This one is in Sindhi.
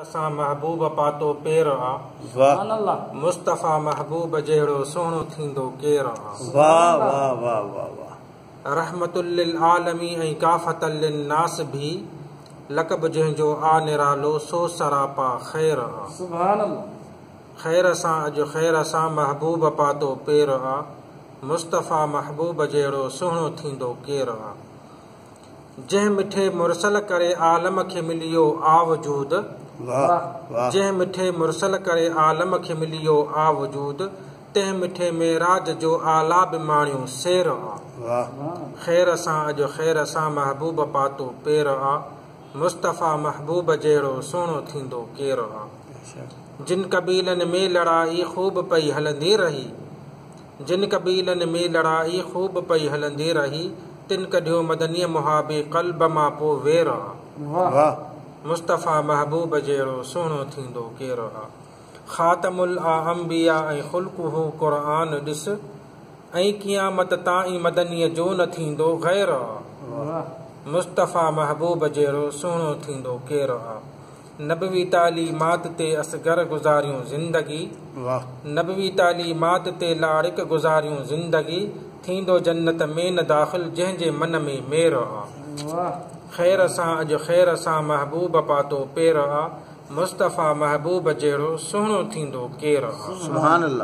اسان محبوب پاتو پير آ. مصطفيٰ محبوب جهڙو سهڻو ٿيندو ڪير آ. رحمة للعالمين ۽ ڪافة للناس ڀي لقب جنهن جو آ نرالو سو سراپا خير آ. خير سان اڄ خير سان محبوب پاتو پير آ. مصطفيٰ محبوب جهڙو سهڻو ٿيندو ڪير آ. جنهن مٺي مرسل ڪري عالم کي مليو آ وجود جنهن مٺي مرسل ڪري عالم کي مليو آ وجود تنهن مٺي معراج جو اعليٰ به ماڻيو سير آ خير سان اڄ خير سان محبوب پاتو پير آ مصطفيٰ محبوب جهڙو سهڻو ٿيندو ڪير آ جن قبيلن ۾ لڙائي خوب پئي هلندي رهي. جن قبيلن ۾ لڙائي خوب پئي هلندي رهي، تن ڪڍيو مدنيء محابي قلب مان پو وير آ. مصطفيٰ محبوب جهڙو سهڻو ٿيندو ڪير آ. خاتم الاانبياء ۽ خلقه قرآن ڏس، ائين قيامت تائين مدنيء جو نه ٿيندو غير آ. مصطفيٰ محبوب جهڙو سهڻو ٿيندو ڪير آ. نبوي تعليمات تي اصغر گذاريون زندگي واھ. نبوي تعليمات تي لاڙڪ گذاريون زندگي ٿيندو جنت ۾ نه داخل جنهن جي من ۾ مير آ واھ. خير سان اڄ خير سان محبوب پاتو پير آ مصطفيٰ محبوب جهڙو سهڻو ٿيندو ڪير آ. سبحان الله.